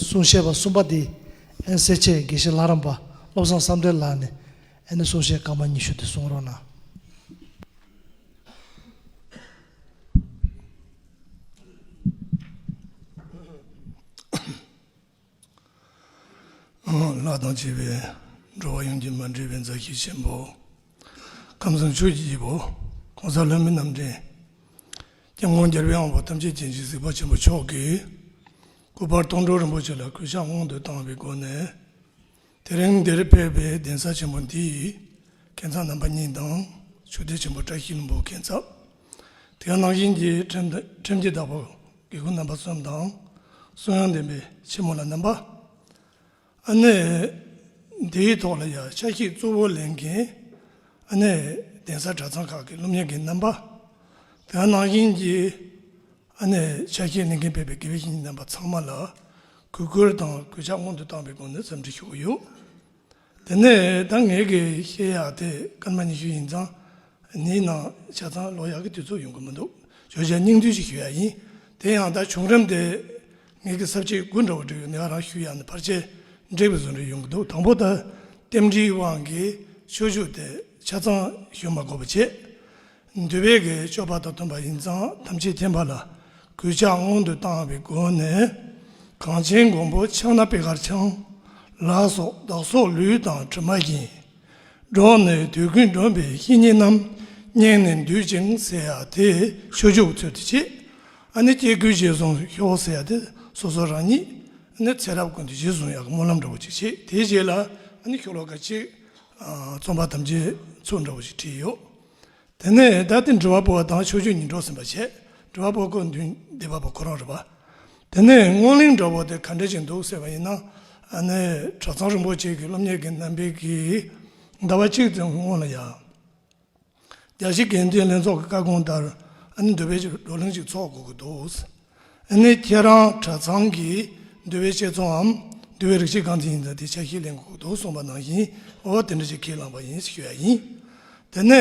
གསུང་བཤད་པ་གསུམ་པ་དེ་ཨན་གསེར་ཆས་དགེ་བཤེས་ལྷ་རམས་པ་བློ་བཟང་བསམ་གཏན་ལགས་ནས་ཨན་ནི་གསུང་བཤད་སྐར་མ་ཉི་ཤུ་དེ་གསུང་རོགས་གནང། ལྷ་དང་བཅས་པའི་འགྲོ་བ་ཡོངས་ཀྱི་མ་འདྲེས་པའི་མཛའ་བཤེས་ཆེན་པོ། ཁམས་གསུམ་ཆོས་ཀྱི་སྐྱེས་བུ ྋགོང་ས་ལྷ་མི་རྣམས་འདྲེན། སྐྱབས་དངོས་རྒྱལ་བའི་དབང་པོ་ཐམས་ཅད་མཁྱེན་བརྩེའི་གཟིགས་པ་ཆེན་པོ་མཆོག་གིས། སྐུ་པར་སྟོང་གྲོགས་རིན་པོ་ཆེ་ལ་གུས་ཕྱག་སྔོན་དུ་བཏང་བའི་སྒོ་ནས། དེ་རིང་འདིར་ཕེབས་པའི་གདན་ས་ཆེན་པོ་འདི་ཡི་གན་ཚགས་རྣམ་པ་གཉིས་དང་ཆོས་སྡེ་ཆེན་པོ་བཀྲ་ཤིས་ལྷུན་པོའི་གན་ཚགས། དེའང་རྣམ་བཞིན་གྱི་ཁྲིམས་ཀྱི་བདག་པོ་དགེ་བསྐོས་རྣམ་པ་གསུམ་དང། གསུང་དབྱངས་ལྡན་པའི་ཆེན་མོ་ལ་རྣམ་པ། ཨ་ནེ། འདིའི་ཐོག་ལ་ཡང་ཆ་ཤས་གཙོ་བོ་ལེན་གིན། ཨ་ནེ། གདན་ས་གྲྭ་ཚང་ཁག་གི་སློབ་གཉེར་གྱི་རྣམ་པ། དེའང་ནང་བཞིན་གྱི་ཨ་ནེ། ཆ་ཤས་ལེན་གིན་ཕེབས་པའི་དགེ་བའི་བཤེས་གཉེན་རྣམ་པ་ཚང་མ་ལ་གུས་བཀུར་དང་གུས་ཕྱག་སྔོན་དུ་བཏང་བའི་སྒོ་ནས་འཚམས་འདྲི་ཞུ་གི་ཡོད། དེ་ནས་ད་ངེད་དགེ་བཤེས་ཡག་དེ་སྐར་མ་ཉི་ཤུ་ཡིན་ཙང་ནི་ནང་ཆ་ཚང་ལོག་ཡག་གི་དུས་ཚོད་ཡོང་གི་མི་འདུག་བརྗོད་བྱ་སྙིང་བསྡུས་ཤིག་ཞུ་ཡག་ཡིན། དེ་ཡང་ད་བྱུང་རིམ་དེ། ངེད་ཀྱི་གསར་བརྗེའི་དགུན་དྲོ་བ་འབྲི་བའི་ནུས་བ་རང་ཤུགས་ཡག་ནས་བར་ཆད་འབྲེག་པའི་བཟོ་འདྲ་ཡོང་གི་འདུག་དང་པོ་ད་ལྟེམ་འབྲིའི་དབང་གིས་ཆོས་ཞུགས་དེ་ཆ་ཚང་ཞུ་མ་གོ་བ་བྱས། འདུལ་བའི་སྒེར་གཅོད་པ་དང་མཐུན་པ་ཡིན་ཙང་དམ་ཆེས་ཐེམ་པ་ལ་གུས་ཕྱག་སྔོན་དུ་བཏང་བའི་སྒོ་ནས་གངས་ཅན་མགོན་པོ་ཕྱག་ན་པད་དཀར་འཆང་ལ་སོགས་བདག་སོགས་ལུས་དང་གྲིབ་མ་བརྒྱན་འགྲོགས་ནས་དུས་ཀུན་སྒྲོན་པའི་བཤེས་གཉེན་རྣམས་བསྙེངས་ནས་འདུལ་ཅིང་སེ་ཡ་དེ་ཆོས་ཞུགས་ཚུལ་དུ་བྱེད། ཨ་ནི་སྐྱེ་དགུའི་རྗེས་བཟུང་ཤོག་ཨོ་སེ་ཨ་དེ་སོ་སོ་རང་ཉིད་ནི་ཚེ་རབས་ཀུན་ཏུ་རྗེས་བཟུང་ཡག་གི་སྨོན་ལམ་འདྲ་བོ་ཅིག་བྱས་དེའི་རྗེས་ལ་ཨ་ནི་ཤོག་ལོ་ཀ་གཅིག་རྩོམ་པ་དམ་བཅའི་ཚུལ་འདྲ་བོ་ཞིག་བྲིས་ཡོད་དེ་ནས་ད་ལྟའི་འབྲི་བ་པོ་བ་དང་ཆོས་བརྒྱུད་གཉིས་འགྲོགས་ཟིན་པ་བྱས་འབྲི་བ་པོ་ཁོ་མདུན་སྡེ་བ་པོ་ཁོ་རང་རེད་པ་དེ་ནས་སྔོན་གླིང་འདྲ་བོ་དེ་ག་འདྲ་ཞིག་འདུག་ཟེར་བ་ཡིན་ན་ཨ་ནི་གྲྭ་ཚང་རིན་པོ་ཆེ་གི་སློབ་གཉེར་གྱི་རྣམ་པའི་གིས་ཟླ་བ་གཅིག་ཙམ་སྔོན་ལ་ཡང། རྒྱ་ཆེའི་འགན་འཛིན་ལྷན་ཚོགས་ཀྱི་བཀའ་དགོངས་ལྟར་ཨ་ནི་འདོད་པའི་ཆེད་བགྲོ་གླེང་ཞིག་འཚོགས་དགོས་ཀྱི་འདུག་ཨ་ནི་ཁྱེད་རང་གྲྭ་ཚང་གི་འདུལ་བའི་བཤད་ཚོའམ་འདུལ་བའི་རིག་བྱེད་གང་དེ་ཡིན་ཙང་དེ་ཆ་ཤས་ལེན་དགོས་ཀྱི་འདུག་གསུངས་པ་ནང་བཞིན་འོ་དེ་འདྲ་ཞིག་ཁས་བླངས་པ་ཡིན་ཞེས་ཞུ་ཡ་ཡིན། དེ་ནས་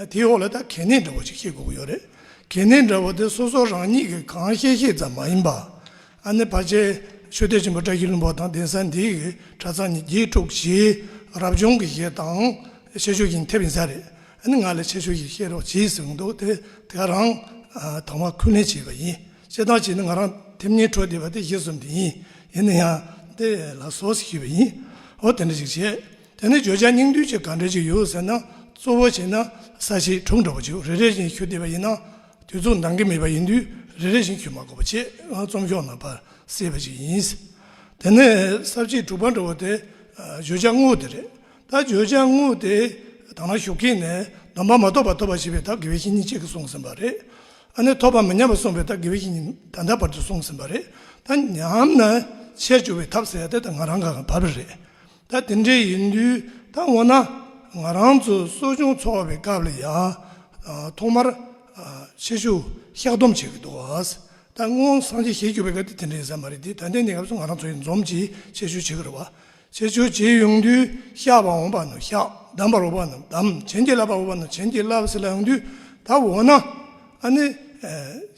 དེའི་འོག་ལ་ད་གལ་གནད་འདྲ་བོ་ཞིག་ཤེས་དགོས་ཀྱི་ཡོད་རེད། གལ་གནད་འདྲ་བོ་དེ་སོ་སོ་རང་ཉིད་ཀྱིས་གང་ཤེས་ཤེས་ཙམ་མ་ཡིན་པར། ཨ་ནེ་བར་ཆད་ཆོས་སྡེ་ཆེན་པོ་བཀྲ་ཤིས་ལྷུན་པོ་དང་གདན་ས་འདི་ཡི་གྲྭ་ཚང་ནི་རྒྱས་དཀྲུགས་བཞིའི་རབ་བྱུང་གི་གཞས་དང་ཆེ་ཆོས་ཀྱིན་ཐེབས་ཡིན་ས་རེད་ཨ་ནེ་ང་ལ་ཆེ་ཆོས་ཤིག་བཤད་རོགས་གྱིས་ཟེར་གྱིན་འདུག་དེ་དེ་རང་དང་བ་ཁུ་ལེན་བྱས་པ་ཡིན་བཤད་སྟངས་གཅིག་ནི་ང་རང་ཐེབས་ཉེན་འཕྲོག་བསྡད་པ་དེ་གཞས་གསུམ་དེ་ཡིན་ཡིན་ན་ཡང་དེ་ལ་ཟོག་ཟིག་ཞུས་པ་ཡིན་འོ་དེ་འདྲ་ཞིག་བྱས་དེ་ནི་བརྗོད་བྱ་སྙིང་བསྡུས་ཅིག་ག་འདྲ་ཞིག་ཡོད་ཟེར་ན་གཙོ་བོ་བྱས་ན་ས་ཞིག་དྲུག་འདྲ་པོ་བྱོས་རེ་རེ་བཞིན་ཞུ་བསྡད་པ་ཡིན་ན། དུས་ཚོད་འདང་གི་མེད་པ་ཡིན་དུས་རེ་རེ་བཞིན་ཁྱོད་མ་གོ་བ་ཆེད་རྩོམ་ཤོག་ནང་པར་གསལ་བ་ཞིག་ཡིན། དེ་ནས་གསར་བརྗེའི་དྲུག་པ་འགྲོ་བ་དེ་བརྗོད་བྱ་དངོས་དེ་རེད། ད་བརྗོད་བྱ་དངོས་དེ་དང་ན་ཞུགས་མཁན་ནས་སྡོམ་པ་མ་ཐོབ་པར་ཐོབ་པ་ཞེས་པའི་དག་དགེ་བའི་བཤེས་གཉེན་གཅིག་གིས་གསུངས་ཟིན་པ་རེད། ཨ་ནི་ཐོབ་པ་མི་ཉམས་པར་གསུངས་པའི་དག་དགེ་བའི་བཤེས་གཉེན་ད་ལྟ་བར་དུ་གསུངས་ཟིན་པ་རེད། ད་ཉམས་ན་ཆེར་འགྱུར་བའི་ཐབས་ཟེར་ཡ་དེ་ད་ང་རང་ག་ག་བར་བར་རེད། ད་དེ་འདྲའི་ཡིན་དུས་ད་འོ་ན་ང་རང་ཚོ་གསོ་སྦྱོང་འཚོགས་པའི་སྐབས་ལ་ཡང་ཐོག་མར་ཆེ་ཞུ་བཤགས་སྡོམ་བྱེད་དགོས་འདུག་ད་སྔོན་སངས་རྒྱས་ཞལ་གྱུར་པའི་སྐབས་དེ་དེ་འདྲའི་ཟེར་མ་རེད་དེ་ད་ལྟའི་གནས་སྐབས་སུ་ང་རང་ཚོ་ཡི་འཛོམས་ཀྱིས་ཆེ་ཞུ་བྱེད་དགོས་རེད་བ། ཆེ་ཞུ་བྱེད་ཡོང་དུས་བཤགས་པར་འོང་པ་ནོ་བཤགས་གདམས་པར་འོང་བ་ནོ་གདམས་བྱིན་གྱིས་བརླབ་པར་འོང་བ་ནོ་བྱིན་གྱིས་བརླབས་ཟེར་ལ་ཡོང་དུས་ད་འོ་ན་ཨ་ནི་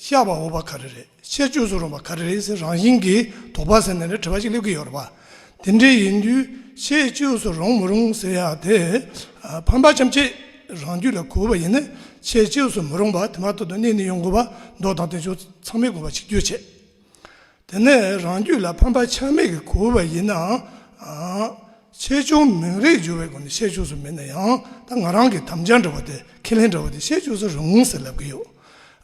བཤགས་པར་འོང་བ་ག་རེ་རེད། ཆད་གཅོད་བཟོ་རུང་བ་ག་རེ་རེད་ཟེར་རང་བཞིན་གྱིས་དོགས་པ་ཟེར་ནས་རེ་བྲིས་པ་ཞིག་སླེབས་ཀྱི་ཡོད་རེད་པ། དེ་འདྲའི་ཡིན་དུས་ཆད་གཅོད་བཟོ་རུང་མི་རུང་ཟེར་ཡག་དེ། ཕམ་པ་ཅམ་ཆེད་རང་རྒྱུད་ལ་གོ་བ་ཡིན་ན་ཆད་གཅོད་བཟོ་མི་རུང་བ་དེ་མ་ཐོག་ཏུ་གནས་ནས་ཡོང་དགོས་པ་མདོག་དང་དོན་ཆུང་ཚང་མས་གོ་བ་ཆིག་བརྒྱུད་བྱེད། དེ་ནས་རང་རྒྱུད་ལ་ཕམ་པ་ཆ་མེད་ཀྱི་གོ་བ་ཡིན་ནའང། ཆེ་ཆུང་མིང་རེ་སྦྱོར་བའི་སྒོ་ནས་བཤད་བཅུག་སུ་མེད་ན་ཡང་ད་ང་རང་གིས་དམ་བཅའ་འདྲ་བོ་དེ་ཁས་ལེན་འདྲ་བོ་དེ་བཤད་བཅུག་སུ་རུང་ཟེར་ལབ་གི་ཡོད།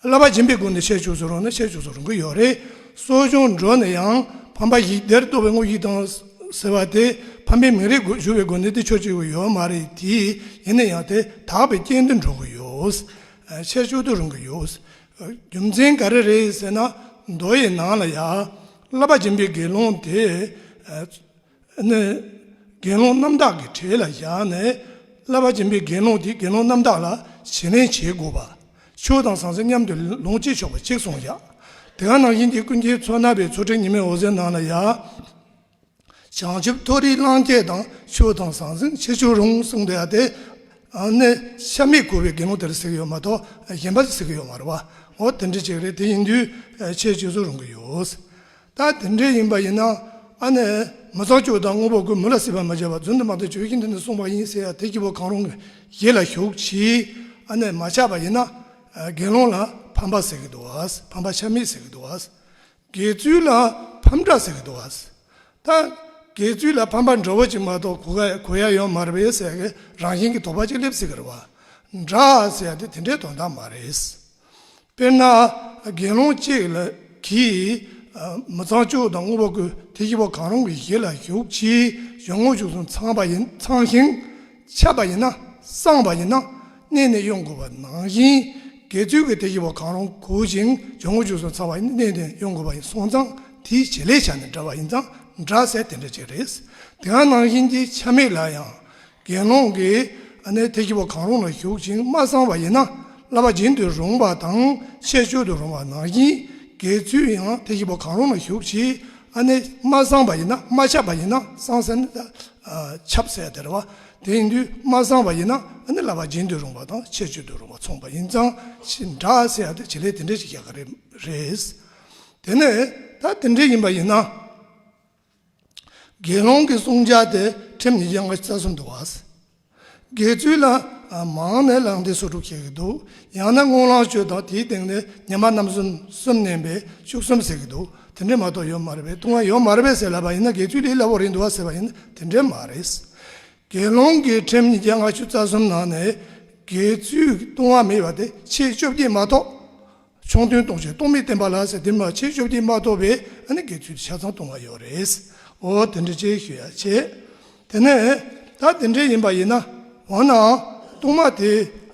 བསླབ་པ་སྦྱིན་པའི་སྒོ་ནས་བཤད་བཅུག་སུ་རུང་ན་བཤད་བཅུག་སུ་རུང་གི་ཡོད་རེད། གསོ་སྦྱོང་འགྲོ་ནས་ཡང་ཕམ་པ་ཡིག་སྡེར་གཏོགས་པའི་དངོས་ཡིག་དང། ཟེར་བ་དེ་ཕམ་པའི་མིང་རེ་སྦྱོར་བའི་སྒོ་ནས་དེ་ཆོག་ཅིག་གི་ཡོད་མ་རེད་དེ། ཡིན་ན་ཡང་དེ་དག་པའི་རྐྱེན་དུ་འགྲོ་གི་ཡོད། བཤད་བཅུག་ཏུ་རུང་གི་ཡོད། རྒྱུ་མཚན་ག་རེ་རེད་ཟེར་ན་མདོ་ཡི་ནང་ལ་ཡ། བསླབ་པ་སྦྱིན་པའི་དགེ་སློང་དེས། ནི། དགེ་སློང་རྣམ་དག་གི་གྲས་ལ་བཞག་ནས་བསླབ་པ་སྦྱིན་པའི་དགེ་སློང་དེས་དགེ་སློང་རྣམ་དག་ལ་བྱིན་ལེན་བྱེད་དགོས་པ། ཆོས་དང་ཟང་ཟིང་མཉམ་དུ་ལོངས་སྤྱད་ཆོག་པ་གཅིག་གསུངས་བཞག། དེའང་ནང་བཞིན་གྱི་ཀུན་མཁྱེན་མཚོ་སྣ་བའི་མཚོ་ཁྲི་ཉི་མའི་འོད་ཟེར་ནང་ལ་བཞག། བྱང་ཆུབ་མཐོ་རིས་གླང་སྐྱེས་དང་ཆོས་དང་ཟང་ཟིང་ཆེ་ཆུང་རུང་གསུངས་པ་དེ། ནི། ཤ་མེད་གོ་བའི་དགེ་སློང་དེར་གཟིགས་ཡོད་མ་གཏོགས་གཞན་པར་གཟིགས་ཡོད་མ་རེད་བ། འོ་དེ་འདྲའི་ཆེད་རེད་དེ་ཡིན་དུས་ཆེད་བཅོས་སུ་རུང་གི་ཡོད། ད་དེ་འདྲས་ཡིན་པ་ཡིན་ན་ཨ་ནེ་མི་ཚོགས་ཆོས་དང་དངོས་པོ་ཀུན་མི་ལ་སྲིད་པར་མི་བྱེད་པར་བརྫུན་དུ་མ་དེ་ཆོས་ཀྱི་མདུན་དུ་གསུངས་པ་ཡིན་ཟེར་ཡ་དེ་སྐྱེ་བོ་གང་རུང་གི་ཡིད་ལ་ཞུགས་ཕྱིས་ཨ་ནེ་མ་ཆགས་པ་ཡིན་ན་དགེ་སློང་ལ་ཕམ་པ་ཟེར་གི་འདུག་ཕམ་པ་ཆ་མེད་ཟེར་གི་འདུག་དགེ་ཚུལ་ལ་ཕམ་འདྲ་ཟེར་གི་འདུག་ད་དགེ་ཚུལ་ལ་ཕམ་པ་འདྲ་བོ་ཅིག་མ་གཏོགས་གོ་ཡ་ཡོད་མ་རེད་པས་ཟེར་གི་རང་བཞིན་གྱི་དོགས་པ་ཅིག་སླེབས་སྲིད་གི་རེད་བ་འདྲ་ཟེར་ཡ་དེ་དེ་འདྲའི་དོན་དག་མ་རེད། དཔེར་ན་དགེ་སློང་གཅིག་གིས་མི་ཚངས་སྤྱོད་དང་བསྔོ་བ་བསྐུལ་དེ་བཞི་པོ་གང་རུང་གི་གཞི་ལ་ཞུགས་ཕྱིའི་གཞུང་དངོས་ཞུགས་སུ་ཚངས་ཤིང་ཆད་པ་ཡིན་ན་སངས་པ་ཡིན་ན་གནས་ནས་དབྱུང་དགོས་པ་ནང་བཞིན་དགེ་ཚུལ་གྱི་དེ་བཞི་པོ་གང་རུང་གོ་ཞིང་གཞུང་དངོས་ཞུགས་སུ་ཚངས་པ་ཡིན་ན་གནས་ནས་དབྱུང་དགོས་པ་ཡིན་སོང་ཙང་དེའི་བྱེད་ལས་བྱ་ནི་འདྲ་བ་ཡིན་ཙང་འདྲ་ཟེར་དེ་འདྲ་བྱེད་རེས་དེའང་ནང་བཞིན་གྱི་ཆ་མེད་ལ་ཡང་དགེ་སློང་གིས་ཨ་ནེ་ཐེག་བཞི་པོ་གང་རུང་ལ་ཞུགས་ཅིང་མ་གསང་བ་ཡིན་ན་བསླབ་པ་སྦྱིན་དུ་རུང་བ་དང་ཆད་གཅོད་དུ་རུང་བ་ནང་བཞིན་དགེ་ཚུལ་ཡང་ཐེག་བཞི་པོ་གང་རུང་ལ་ཞུགས་ཕྱིས་ཨ་ནེ་མ་གསང་བ་ཡིན་ན་མ་ཆགས་པ་ཡིན་ན་གསང་སེམས་ལ་ཁྱབ་བསལ་སྟེར་བ་དེ་ཡིན་དུས་མ་གསང་བ་ཡིན་ན་ཨ་ནེ་བསླབ་པ་སྦྱིན་དུ་རུང་བ་དང་ཆད་གཅོད་དུ་རུང་བ་མཚུངས་པ་ཡིན་ཙང་ཞེས་འདྲ་སེ་ཨ་ཏི་བྱེད་ལས་དེ་འདྲས་ཤིག་བཞག་གི་རེད། དེ་ནས་ད་དེ་འདྲས་ཡིན་པ་ཡིན་ན། དགེ་སློང་གི་བསྲུང་བྱ་དེ་ཁྲིམས་ནི་གཡང་ག་རྩ་གསུམ་དུ་བག། དགེ་ཚུལ་ལ། མང་ནས་ལངས་ཏེ་སོ་དྲུག་བྱེད་ཀྱི་འདུག་ཡང་ན་སྔོན་ལངས་སྤྱོད་དང་དེའི་སྟེང་ནས་ཉི་མ་རྣམ་གསུམ་གསུམ་བསྣན་པས་བཅུ་གསུམ་ཟེར་གྱི་འདུག་དེ་འདྲས་མ་གཏོགས་ཡོད་མ་རེད་པས་ལྟུང་བ་ཡོད་མ་རེད་པས་ཟེར་སླ་བ་ཡིན་ན་དགེ་ཚུལ་ལས་སླ་བོ་རེད་འདུག་བ་ཟེར་བ་ཡིན་དེ་འདྲས་མ་རེད། དགེ་སློང་གི་ཁྲིམས་ནི་གཡང་ག་བཅུ་རྩ་གསུམ་ནང་ནས་དགེ་ཚུལ་ལྟུང་བ་མེད་པ་དེ་ཕྱེད་བཅོ་བརྒྱད་མ་གཏོགས་ཆུང་དོན་རྟོགས་བྱེད་རྟོག་མེད་བསྟན་པ་ལ་ཟེར་དེ་མ་བྱས་ཆོས་བདེན་མ་རྟོགས་པས་ཨ་ནི་དགེ་ཚུལ་དུ་ཆ་ཚང་སྟོང་བ་ཡོད་རེད། འོ་དེ་འདྲ་ཅིག་ཞུ་ཡ་བྱས། དེ་ནས་ད་དེ་འདྲ་ཡིན་པ་ཡིན་ན། འོ་ན་ཨང། རྟོག་མ་དེ་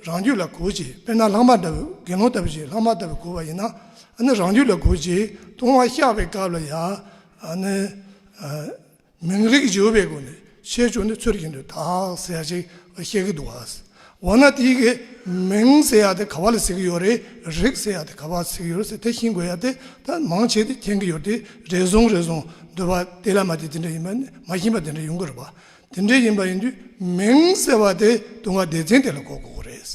རང་རྒྱུད་ལ་གོ་ཅིག་དཔེར་ན་ལྷག་མ་ལྟ་བུ་དགེ་སློང་ལྟ་བུ་ཞིག་ལྷག་མ་ལྟ་བུ་གོ་བ་ཡིན་ན། ཨ་ནི་རང་རྒྱུད་ལ་གོ་ཅིག་སྟོང་བ་བཤགས་པའི་སྐབས་ལ་ཡང། ཨ་ནི། མིང་རིགས་བརྗོད་པའི་སྒོ་ནས་བཤད་ཆོག་ནི་ཚུལ་བཞིན་དུ་དག་ཟེར་ཅིག་བཤད་ཀྱི་འདུག་ཨཱ། འོ་ན་དེ་གའི་མིང་ཟེར་ཡག་དེ་ག་བ་ལ་ཟེར་གྱི་ཡོད་རེད་རིགས་ཟེར་ཡག་དེ་ག་བ་ཟེར་གྱི་ཡོད་རེད་དེ་ཤིན་དགོས་ཡག་དེ་ད་མང་བྱས་ཏེ་མཁྱེན་གྱི་ཡོད་དེ་རེ་ཟུང་རེ་ཟུང་འདོད་པ་དེ་ལ་མ་དེ་དེ་འདྲ་ཡིན་པ་ནི་མ་ཤེས་པ་དེ་འདྲ་ཡོང་གི་རེད་པ། དེ་འདྲ་ཡིན་པ་ཡིན་དུས་མིང་ཟེར་བ་དེ་ལྟུང་བ་སྡེ་ཚན་དེ་ལ་གོ་དགོས་རེད།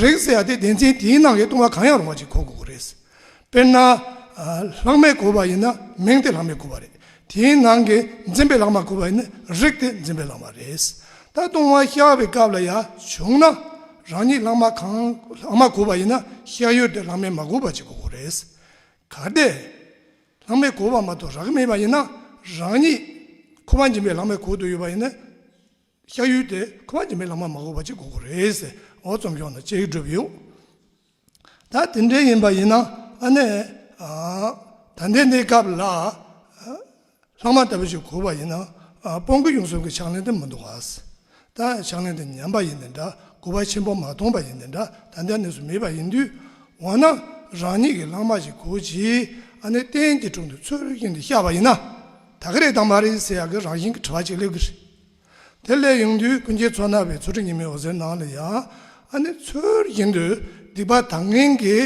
རིགས་ཟེར་ཡག་དེ་སྡེ་ཚན་དེའི་ནང་གི་ལྟུང་བ་གང་ཡང་རུང་བ་ཅིག་གོ་དགོས་རེད། དཔེར་ན། ལྷག་མའི་གོ་བ་ཡིན་ན་མིང་དེ་ལྷག་མའི་གོ་བ་རེད། དེའི་ནང་གི་འཛིན་པའི་ལྷག་མ་གོ་བ་ཡིན་ན་རིགས་དེ་འཛིན་པའི་ལྷག་མ་རེད། ད་ལྟུང་བ་ཤ་བའི་སྐབས་ལ་ཡང་བྱུང་ན། རང་ཉིད་ལྷག་མ་གང་ལྷག་མ་གོ་བ་ཡིན་ན་ཤ་ཡོད་དེ་ལྷག་མའི་མ་གོ་བ་ཅིག་གོ་རེད། གལ་ཏེ། ལྷག་མའི་གོ་བ་མ་གཏོགས་རགས་མེད་པ་ཡིན་ན་རང་ཉིད་ཁོ་བ་འཛིན་པའི་ལྷག་མའི་གོ་དུ་ཡོད་པ་ཡིན་ན། ཤ་ཡུལ་དེ་ཁོ་པ་ཇི་མི་ལ་མ་མ་གོ་བ་ཅིག་གོ་གོ་རེད་ཟེར་འོ་རྩོམ་ཤོག་ན་བཅད་ཡིག་བསྒྲུབ་ཡོད་ད་དེ་འདྲའི་ཡིན་པ་ཡིན་ན་ཨ་ནས་ད་འདས་འདས་སྐབས་ལ་ལྷག་མ་ལྟ་བུ་ཞིག་གོ་བ་ཡིན་ན་སྤོང་གི་ཡོང་གསུམ་གྱི་ཕྱག་ལེན་དེ་མི་འདུག་གཱས་ད་ཕྱག་ལེན་དེ་ཉམས་པ་ཡིན་ནི་འདྲ་གོ་བ་ཆེན་པོ་མ་མཐོང་པ་ཡིན་ནི་འདྲ་ད་འདས་གནས་སུ་མེད་པ་ཡིན་དུས་འོ་ན་རང་ཉིད་ཀྱི་ལྷག་མ་ཞིག་གོ་ཅི་ཨ་ནས་གཏན་གྱི་དྲུང་དུ་ཚུར་ཡིན་དུ་ཤར་བ་ཡིན་ན་ད་ག་རེ་དང་མ་རེད་ཟེར་ཡག་གི་རང་བཞིན་གྱི་དྲི་བ་ཅིག་སླེབས་གི་རེད། དེ་སླད་ཡོང་དུས་སྤུན་མཆེད་ཚོ་རྣ་བའི་ཚོ་ཁྲི་ཉི་མའི་འོད་ཟེར་ནང་ལ་ཡང་ཨ་ནེ་ཚུལ་བཞིན་དུ་སྡིག་པ་དང་ངན་གྱི་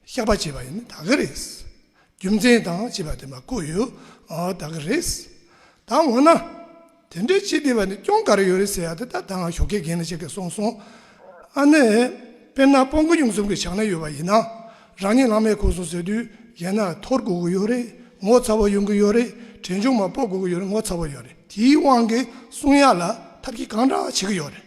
བཤགས་པ་བྱེད་པ་ཡིན་ད་གི་རེད། རྒྱུ་མཚན་དང་བྱིས་པ་དེ་མ་བཀོད་ཡོད་ད་གི་རེད། ད་འོ་ན་དེ་འདྲའི་བྱིས་བདེ་བ་ནི་སྐྱོང་ག་རེ་ཡོད་རེད་ཟེར་ཡག་ད་ད་ང་ཞོག་ཁའི་རྒན་ལ་ཆེ་གེ་སོང་སོང་ཨ་ནེ། དཔེར་ན་སྤོ་མགོ་ཡུང་གསུམ་གྱི་ཞག་ན་ཡོད་པ་ཡིན་ན། རང་ཉིད་ལང་མེད་གོ་སོང་ཟེར་དུས་རྒྱལ་ནག་འཐོར་དགོས་ཀྱི་ཡོད་རེད་ངོ་ཚ་བོ་ཡོང་གི་ཡོད་རེད་གྲལ་མཇུག་མ་སྤོ་དགོས་ཀྱི་ཡོད་རེད་ངོ་ཚ་བོ་ཡོད་རེད་དེའི་དབང་གིས་གསུང་ཡག་ལ་ཐབས་ཀྱིས་གང་འདྲ་བྱེད་ཀྱི་ཡོད་རེད་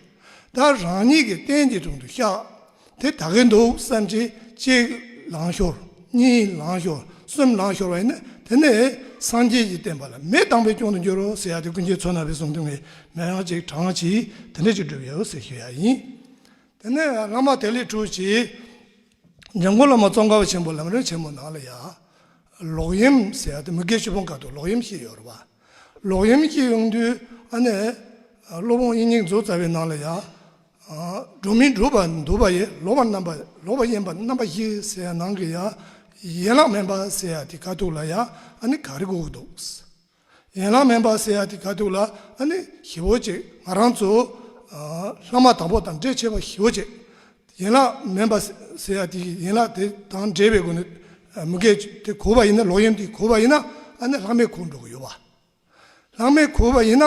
ད་རང་ཉིད་ཀྱི་སྟན་གྱི་དྲུང་དུ་བཤགས་དེ་ད་གིན་འདུག་བསམ་གྱིས་གཅིག་ལང་ཤོར་གཉིས་ལང་ཤོར་གསུམ་ལང་ཤོར་བ་ཡིན་ན་དེ་ནི་སངས་རྒྱས་ཀྱི་བསྟན་པ་ལ་མི་སྡང་པའི་སྐྱོན་དུ་འགྱུར་རོ་ཟེར་ཡག་དེ་ཀུན་མཁྱེན་མཚོ་སྣ་བའི་གསུང་དོན་ངས་མེད་ཡང་གཅིག་གྲངས་ཀྱིས་དེ་འདྲ་ཞིག་བསྒྲུབས་ཡོད་ཟེར་ཞུ་ཡག་ཡིན་དེ་ནི་སྔ་མ་དེ་ལས་གྲུབ་ཅིག། ཉེ་འཁོར་ལ་མ་ཙོང་ཁ་བ་ཆེན་པོ་ལམ་རིན་ཆེན་མོ་ནང་ལ་ཡང། ལོག་གཡེམ་ཟེར་ཡ་ཏི་མི་གེ་ཆུ་ཕོང་ཁ་ཏུ་ལོག་གཡེམ་ཤི་ཡོད་ར་བ། ལོག་གཡེམ་ཤི་ཡོང་དུས་ཨ་ནེ། སློབ་དཔོན་དབྱིན་སྙིང་རྫོ་ཙཱ་བའི་ནང་ལ་ཡང། སྒྲུབ་མི་སྒྲུབ་པ་འདུལ་བ་ཡི་ལོག་པ་རྣམ་པ་ལོག་པ་གཡེམ་པ་རྣམ་པ་ཤི་ཟེར་ཡ་ནང་གི་ཡང། ཡན་ལག་སྨན་པ་ཟེར་ཡ་ཏི་ཁ་ཐུག་ལ་ཡང་ཨ་ནེ་ག་རེ་གོ་གི་འདུག། ཡན་ལག་མེན་པར་སེ་ཨ་ཏི་ག་ཐུག་ལ་ཨ་ནི་ཞི་བོ་ཅེས་ང་རང་ཚོ་ལྷ་མ་དང་པོ་དང་འབྲེལ་ཆེ་བ་ཞི་བོ་ཅེས་ཡན་ལག་མེན་པར་སེ་ཨ་ཏི་ཡི་ཡན་ལག་དེ་དང་འབྲེལ་བའི་སྒོ་ནས་མུ་གེ་དེ་གོ་བ་ཡིན་ན་ལོག་གཡེམ་དེ་གོ་བ་ཡིན་ན་ཨ་ནི་ལྷག་མེད་གོ་འགྲོ་གི་ཡོད་བ། ལྷག་མེད་གོ་བ་ཡིན་ན་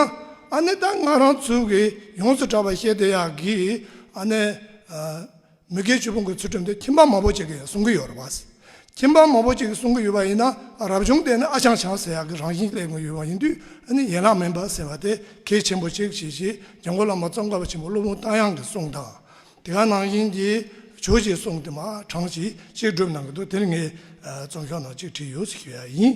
ཨ་ནི་ད་ང་རང་ཚོ་གིས་ཡོངས་སུ་གྲགས་པ་བཤད་དེ་ཡག་གི་ཨ་ནི། མི་དགེ་བཅུ་སྤོང་གི་ཚུལ་ཁྲིམས་དེ་ཁྱིམ་པ་མང་པོ་ཅིག་གིས་བསྲུང་གི་ཡོད་རེད། ཁྱིམ་པ་མང་པོ་ཅིག་གིས་བསྲུང་གི་ཡོད་པ་ཡིན་ན་རབ་བྱུང་དེ་ནི་ཨ་ཅང་བྱང་ཟེར་ཡག་གི་རང་བཞིན་གླེང་གི་ཡོད་པ་ཡིན་དུས་ནི་ཡན་ལག་མིན་པ་ཟེར་བ་དེ་གལ་ཆེན་པོ་ཅིག་བྱེད་ཅེས་རྒྱ་མགོ་བླ་མ་ཙོང་ཁ་པ་ཆེན་པོ་སློབ་དཔོན་རྟ་དབྱངས་ཀྱི་གསུང་དང། དེ་ག་ནང་བཞིན་གྱི་བྱོས་ཀྱི་གསུང་དེ་མ་གྲངས་ཅིག་གཅིག་སྒྲུབ་གནང་གི་འདུག་དེར་ངས་རྩོམ་ཤོག་ནང་གཅིག་བྲིས་ཡོད་ཟེར་གྱི་ཡིན།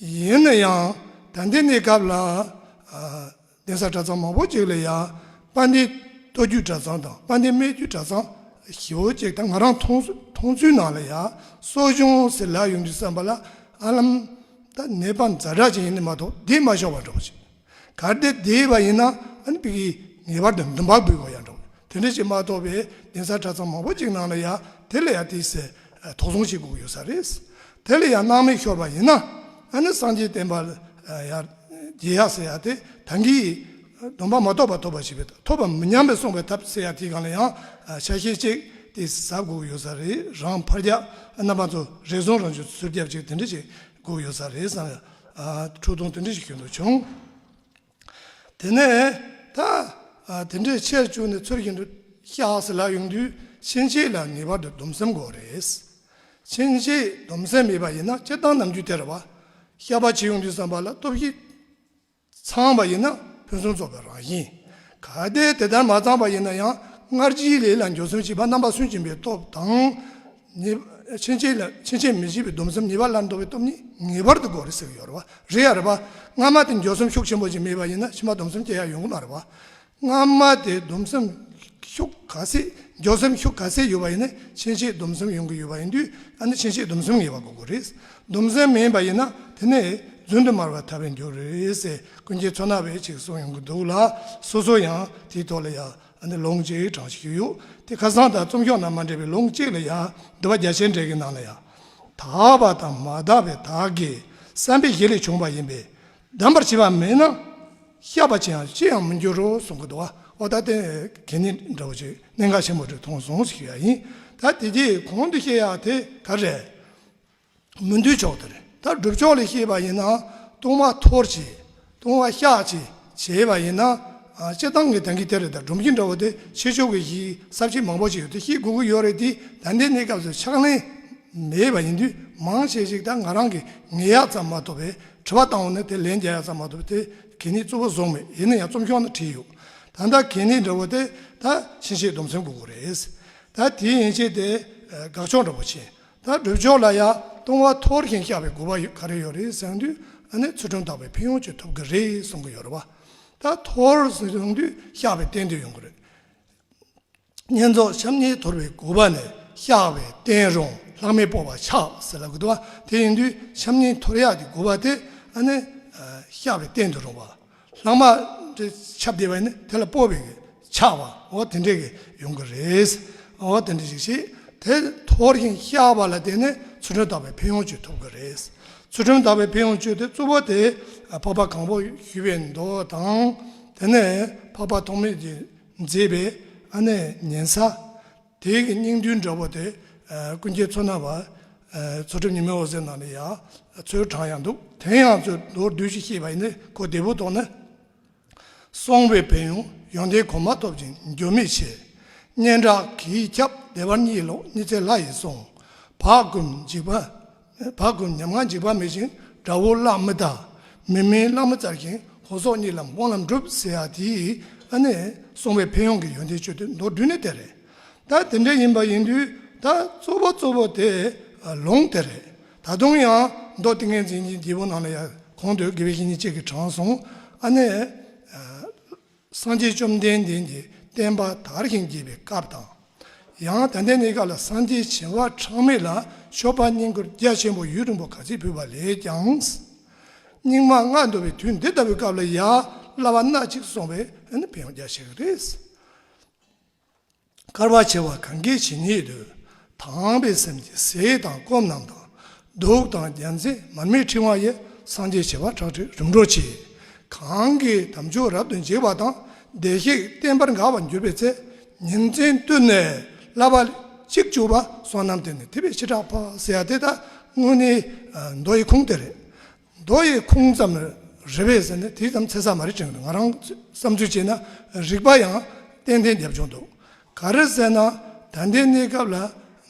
ཡིན་ན་ཡང་ད་ལྟའི་གནས་སྐབས་ལ་གདན་ས་གྲྭ་ཚང་མང་པོ་ཅིག་ལ་ཡང་པ་ཎྡི་ལྟོ་རྒྱུད་གྲྭ་ཚང་དང་པ་ཎྡི་སྨད་རྒྱུད་གྲྭ་ཚང་བཞི་བོ་ཅིག་དང་ང་རང་མཐོང་ཚུལ་ནང་ལ་ཡང་གསོ་སྦྱོང་ཟེར་ལག་ཡོང་དུས་བསམ་པ་ལ་ཨ་ལམ་ད་ནད་པ་འཛའ་དྲག་ཅིག་ཡིན་ནི་མ་གཏོགས་འདིས་མ་ཤོར་བ་འགྲོ་བ་ཞིག། གལ་ཏེ་དེ་ཡིན་པ་ཡིན་ན་ཨན་པི་ཀིས་ངེས་པར་དུ་འདུན་པ་འབུལ་བ་ཡང་འདྲ་བོ། དེ་འདྲ་ཞིག་མ་གཏོགས་པའི་གདན་ས་གྲྭ་ཚང་མང་པོ་ཅིག་ནང་ལ་ཡང་དེ་ལ་ཡང་དེའི་ཟེར་དོགས་གསུང་བྱེད་དགོས་ཀྱི་ཡོད་ས་རེད། དེ་ལ་ཡང་སྣང་མེད་ཤོར་བ་ཡིན་ན་ཨ་ནི་སངས་རྒྱས་བསྟན་པ་ལ་རྒྱལ་ཡག་ཟེར་ཡག་དེ་ཐང་གིས་སྡོམ་པ་མ་གཏོགས་པ་ཐོབ་པ་ཞིག་བས་ཐོབ་པ་མི་ཉམས་པའི་གསུངས་པའི་ཐབས་ཟེར་ཡག་དེའི་སྒང་ལ་ཡང་ཆ་ཤས་གཅིག་དེ་ཟ་དགོས་ཀྱི་ཡོད་ས་རེད་རང་ཕར་རྒྱག་རྣམ་པ་ཚོ་རེ་ཟུང་རང་ཆུ་ཟུར་རྒྱབ་ཅིག་དེ་འདྲ་ཞིག་སྒུག་ཡོད་ས་རེད་བསམ་ཡང་ཁྲོ་ཐུང་དེ་འདྲ་ཞིག་གྱོན་འདུག་བྱུང། དེ་ནས་ད་དེ་འདྲས་ཆེར་བཅུག་ནས་ཚུར་གྱེན་དུ་གཤགས་སེ་ལ་ཡོང་དུས་ཕྱིན་ཆད་ལ་ངེས་པར་དུ་སྡོམ་སེམས་དགོས་རེད། ཕྱིན་ཆད་སྡོམ་སེམས་མེད་པ་ཡིན་ན་སྤྱིར་བཏང་ནམ་རྒྱུན་དེ་རེད་བ། ཤ་པ་བྱེད་ཡོང་དུས་བསམ་པ་ལ་སྟོབས་ཤིག། ཚང་བ་ཡིན་ན་ཕུན་སུམ་ཚོགས་པའི་རང་བཞིན། གལ་ཏེ་དེ་ལྟར་མ་ཚང་བ་ཡིན་ན་ཡང་སྔར་གྱི་ལས་ལ་འགྱོད་གསུམ་བྱེད་པ་རྣམ་པ་སུན་འབྱིན་པའི་སྟོབས་དང། ཕྱིན་ཆད་མི་བྱེད་པའི་སྡོམ་གསུམ་ཉེས་པ་སླར་འདོར་བའི་སྟོབས་གཉིས་ངེས་པར་དུ་གོ་རེ་ཟེར་གྱི་ཡོད་རེད་པ། རེད་ཡ་རེད་པ། སྔ་མ་དེ་འགྱོད་གསུམ་ཤུགས་ཆེན་པོ་ཅིག་མེད་པ་ཡིན་ན་ཕྱི་མ་སྡོམ་གསུམ་སྐྱེ་ཡ་ཡོང་གི་མ་རེད་པ། སྔ་མ་དེ་སྡོམ་སེམས་ཤུགས་ག་ཚད་འཇོག་སེམས་ཤུགས་ག་ཚད་ཡོད་པ་ཡིན་ན་ཕྱིན་ཆད་སྡོམ་སེམས་ཡོང་གི་ཡོད་པ་ཡིན་དུས་ད་ནི་ཕྱིན་ཆད་སྡོམ་སེམས་ངེས་པ་དགོས་དགོས་རེད། སྡོམ་སེམས་མེད་པ་ཡིན་ན་དེ་ནི་བརྫུན་དུ་མར་བ་ཐར་བའི་འགྱུར་རེད་ཟེར་ཀུན་མཁྱེན་མཚོ་ནག་བས་ཅིག་གསུངས་ཡོང་གི་འདུག་ལ་སོ་སོ་ཡང་དེའི་ཐོག་ལ་ཡང་ལོང་ཅིག་དྲངས་ཤིག་ཞུས་ཡོད་དེ་ཁ་སང་དང་རྩོམ་ཤོག་ནང་མ་འདྲེས་པའི་ལོང་གཅིག་ལ་ཡང་འདི་བ་རྒྱ་ཆེན་འགྲེལ་གྱི་ནང་ལ་ཡང། དག་པ་དང་མ་དག་པའི་དག་གིས་བསམ་པའི་གཞི་ལས་བྱུང་བ་ཡིན་པས་བསྡམ་པར་བྱེད་པ་མེད་ན། ཤ་བ་ཅན་ཅི་ཡང་མི་འགྱུར་རོ་གསུང་གི་དོ་ཨོ་ད་དེ་དེ་ནི་འདྲ་བོ་ཅིག་གནད་འགག་ཆེན་པོ་དྲུག་ཐོང་ཟོང་ཞིག་ཡ་ཡིན་ད་དེ་དེ་གོང་དུ་བཤད་ཡ་དེ་ག་རེད། མི་འདུལ་ཕྱོགས་དེ་རེད་ད་སྒྲུབ་ཕྱོགས་ལས་ཤེས་པ་ཡིན་ན་ལྟུང་བ་འཐོར་བྱེད་ལྟུང་བ་བཤགས་བྱེད་བྱེད་པ་ཡིན་ན་སྤྱི་བཏང་གི་དོན་གྱི་དེ་རེད་ད་སྒྲུབ་མཁན་འདྲ་བོ་དེ་ཕྱི་ཕྱོགས་ཀྱི་ཞིག་གསར་བྱེད་མང་པོ་ཞིག་ཡོད་དེ་ཤེས་དགོས་ཀྱི་ཡོད་རེད་དེ་ད་འདི་ནས་སྐབས་སུ་ཕྱག་ལེན་མེད་པ་ཡིན་དུས་མང་ཆེ་ཞིག་ད་ང་རང་གིས་ངེས་ཡག་ཙམ་མ་ཐོབ་པས་དྲི་བ་བཏང་བ་ནི་དེ་ལན་བརྒྱ་ཡག་ཙམ་མ་ཐུབ་དེ་གད་སྙིགས་བཙུར་བ་བཟོ་ངེས་ཡིན་ན་ཡང་རྩོམ་ཤོག་ན་བྲིས་ཡོད་ད་ལྟ་གད་སྙིགས་འདྲ་བོ་དེ་ད་ཕྱིན་ཆད་སྡོམ་སེམས་དགོས་མཁོ་རེད་ད་དེའི་ཡན་ཆད་དེ་དགག་ཕྱོགས་འདྲ་བོ་བྱས་ད་སྒྲུབ་ཕྱོགས་ལ་ཡང་ལྟུང་བ་འཐོར་ཞིང་བཤགས་པའི་དགོས་པ་ག་རེ་ཡོད་རེད་བསམ་དུས་ད་ནི་ཚུལ་ཁྲིམས་དག་པའི་ཕན་ཡོང་བྱེད་ཐུབ་གི་རེད་གསུང་གི་ཡོད་རེད་བ་ད་འཐོར་བསམ་དུས་བཤགས་པའི་གཏན་དུ་ཡོང་གི་རེད། བསྙེན་རྫོགས་བྱམས་སྙིང་དོར་བའི་གོ་བ་ནས་བཤགས་པའི་རྟེན་རུང་ལྷག་མེད་སྤོ་བར་བྱ་ཟེར་ལ་གོ་བ་དེ་ཡིན་དུས་བྱམས་སྙིང་དོར་ཡག་གི་གོ་བ་དེ་ནི་བཤགས་པའི་རྟེན་དུ་རུང་བ། ལྷག་མ། ཁྱབ་བདེ་བས་ནི་དེ་ལ་སྤོ་བའི་ཆགས་པའོ་དེ་འདྲས་ཀྱི་ཡོང་གི་རེད། འོ་དེ་འདྲས་ཞིག་བྱས་དེ་དོར་ཞིང་བཤགས་པ་ལ་དེ་ནི་ཚུལ་ཁྲིམས་དག་པའི་ཕན་ཡོང་སྤྱོད་ཐུབ་ཀྱི་རེད། ཚུལ་ཁྲིམས་དག་པའི་ཕན་ཡོང་སྤྱོད་དེ་གཙོ་བོ་དེ་འཕགས་པ་གང་པོ་ཞུས་པའི་མདོ་དང་དེ་ནས་འཕགས་པ་ཐོགས་མེད་ཀྱི་མཛེས་པའི་ཨ་ནེ་ཉན་ས། དེའི་གི་སྙིང་འདུས་འདྲ་བོ་དེ། ཀུན་མཁྱེན་མཚོ་སྣ་བ། མཚོ་ཁྲོམ་ཉི་མའི་འོད་ཟེར་ནང་ནས་ཡང་མཚོའི་གྲངས་ཡང་འདུག་དེ་ཡང་མཚོའི་མདོར་བསྡུས་ཤིག་ཤེས་པ་ཡིན་ན་གོ་བདེ་བོ་དོགས་ན། སོང་བའི་བལ་ཡུང་ཡོན་ཏན་གོ་མ་ཐོབ་ཅིང་འགྱོད་མེད་ཆེ། སྙན་གྲགས་གིས་ཁྱབ་བདེ་བར་གཉིད་ལོག་གཉིད་ཚད་ལྷ་ཡིས་སོང། བག་འཁུམས་འཇིགས་པ་བག་གི་ཉམས་ངག་འཇིགས་པ་མེད་བཞིན་དགྲ་བོ་གླགས་མི་ལྟ། མི་མིན་གླགས་མི་རྩ་བཞིན་ཧོར་སོག་གཉིས་ལམ་དབང་ལམ་སྒྲུབ་ཟེར་ཡ་དེ་ཡིས་ཨ་ནེ་སོང་བས་ཕན་ཡོང་གི་ཡོན་ཏན་སྤྱོད་དེ་མདོར་བསྡུས་ནས་དེ་རེད། ད་དེ་འདྲ་ཡིན་པ་ཡིན་དུས་ད་གཙོ་བོ་གཙོ་བོ་དེ་ལོངས་དེ་རེད། ད་དུང་ཡང་མདོ་ཏིང་ངེ་འཛིན་གྱི་རྒྱལ་པོ་ནང་ལ་ཡང་གོང་དུ་དགེ་བའི་བཤེས་གཉེན་གཅིག་གི་དྲང་སྲོང་ཨ་ནེ། སངས་རྒྱས་བཅོམ་ལྡན་འདས་ཀྱི་བསྟན་པ་དར་ཞིང་རྒྱས་པའི་སྐབས་དང། ཡང་ད་ལྟའི་གནས་སྐབས་ལ་སངས་རྒྱས་བྱེ་བ་ཕྲག་མེད་ལ་ཞོགས་པ་བསྙེན་བཀུར་རྒྱ་ཆེན་པོ་ཡུལ་རིང་པོ་ག་ཚོད་ཕུལ་བ་ལས་ཀྱང། སྙིགས་མ་ལྔ་འདུ་བའི་དུས་འདི་ལྟ་བུའི་སྐབས་ལ་ཡ་བསླབ་པ་སྣ་གཅིག་སོང་བས་ཕན་ཡོན་རྒྱ་ཆེ་བ་རེད། དཀར་བར་བྱེད་པ་གང་གིས་བྱིན་ཉིད་དུ་དྭངས་པའི་སེམས་ཀྱིས་ཟས་དང་སྐོམ་རྣམས་དང། གདུགས་དང་རྒྱལ་མཚན་མར་མེའི་ཕྲེང་བ་ཡི་སངས་རྒྱས་བྱེ་བ་ཁྲག་ཁྲིག་རིམ་གྲོ་བྱེད། གང་གིས་དམ་ཆོས་རབ་ཏུ་འཇིགས་པ་དང་བདེ་གཤེགས་བརྟན་པར་འགག་པར་འགྱུར་པའི་ཚེ་ཉིན་མཚན་བསྟོད་ནས་བསླབ་པ། གཅིག་བཅུ་པ་སོ་ནམ་དེ་ནི་དེ་བས་ཕྱི་དྲག་པ་སེ་ཡ་དེ་དག་སྔོན་ནི་མདོ་ཡི་ཁུངས་དེ་རེད། རྡོ་ཡི་ཁུང་ཙམ་རེ་བས་ཟེར་ནས་དེ་ཙམ་ཚེ་ཚད་མ་རེད་ཅེས་ང་རང་བསམ་ཚུལ་བྱས་ན་རིག་པ་ཡང་ཏན་ཏན་རྒྱབ་བྱུང་འདུག་ག་རེ་བསལ་ན་ད་ལྟའི་གནས་སྐབས་ལ་